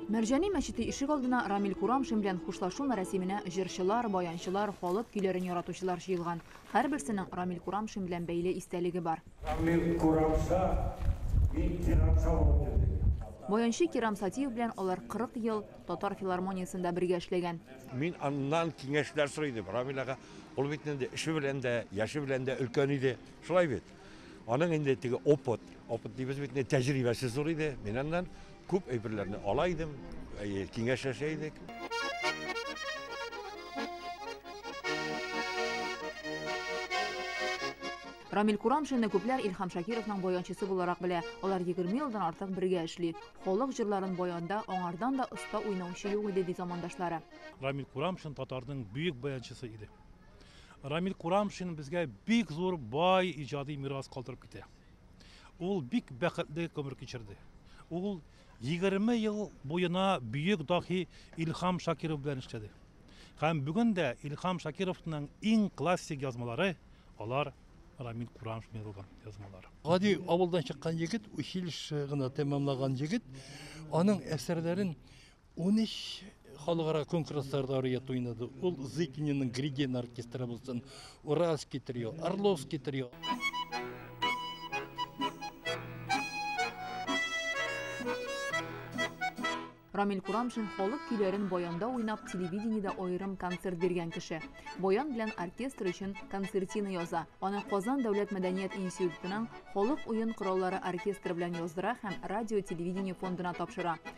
Мәрҗани мәчете ишек алдына Рамил Курамшин белән хушлашу мәрәсименә җырчылар, баянчылар, халык көйләрен яратучылар җыелган. Һәрберсенең Рамил Курамшин белән бәйле истәлеге бар. Рамил Курамша, мин Кирамша булып йөрдек. Баянчы Кирам Сатиев белән алар 40 ел Татар филармониясендә бергә эшләгән. Мин аннан киңәшләр сорый идем. Рамил ага, ул бит инде эше белән дә, яше белән дә өлкән иде. Шулай бит? Аның инде теге опыт, опыт дибез бит, тәҗрибәсе зур иде. Мин аннан күп әйберләрне ала идем, киңәшләшә идек. Рамил Курамшинны күпләр Илхам Шакировның баянчысы буларак белә. Алар 20 елдан артык бергә эшли. Халык җырларын баянда аңардан да оста уйнаучы юк иде, ди замандашлары. Рамил Курамшин татарның бөек баянчысы иде. Рамил Курамшин безгә бик зур бай иҗади мирас калдырып китә. Ул бик бәхетле гомер кичерде. Ул 20 ел буена бөек дахи Илхам Шакиров белән эшләде. Һәм бүген дә Илхам Шакировның иң классик язмалары алар Рамил Курамшин язылган язмалар. Гади авылдан чыккан егет, училище гына тәмамлаган егет, аның әсәрләрен 13 халыкара конкурсларда ариет уйнады. Ул Зыкининың Гридин оркестры булсын, Уральский трио, Орловский трио. Рамил Курамшин халык көйләрен баянда уйнап, телевидениедә аерым концерт биргән кеше. Баян белән оркестр өчен концертина яза. Аны Казан дәүләт мәдәният институтының халык уен кораллары оркестры белән яздыра һәм радио-телевидение фондына тапшыра.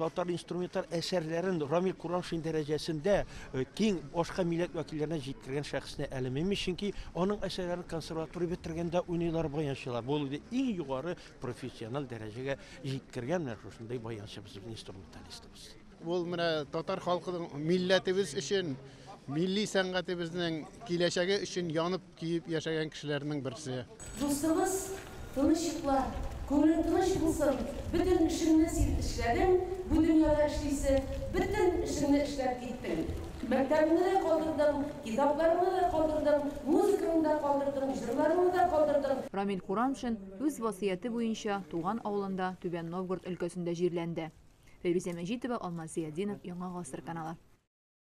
Татар инструменталь әсәрләрен Рамил Курамшин дәрәҗәсендә э, киң башка милләт вәкилләренә җиткергән шәхесне әлемеми, чөнки аның әсәрләрен консерватория бетергәндә уйныйлар, баянчылар. Бу инде иң югары профессиональ дәрәҗәгә җиткергән менә шушындый баянчы безнең инструменталистыбыз. Ул менә татар халкының милләтебез өчен, милли сәнгатебезнең киләчәге өчен янып Киеп яшәгән кешеләрнең берсе. Дустыбыз, тыныч йокла, күңелең тыныч булсын, бөтен эшеңне син эшләдең, бу дөньяда эшлисе бөтен эшеңне эшләп киттең. Мәктәбеңне дә калдырдың, китапларыңны да калдырдың, музыкаңны да калдырдың, җырларыңны да калдырдың. Рамил Курамшин үз васыяте буенча туган авылында Түбән Новгород өлкәсендә җирләнде. Фәйрүзә Мәҗитова, Алмаз Зыятдинов, Яңа гасыр каналы.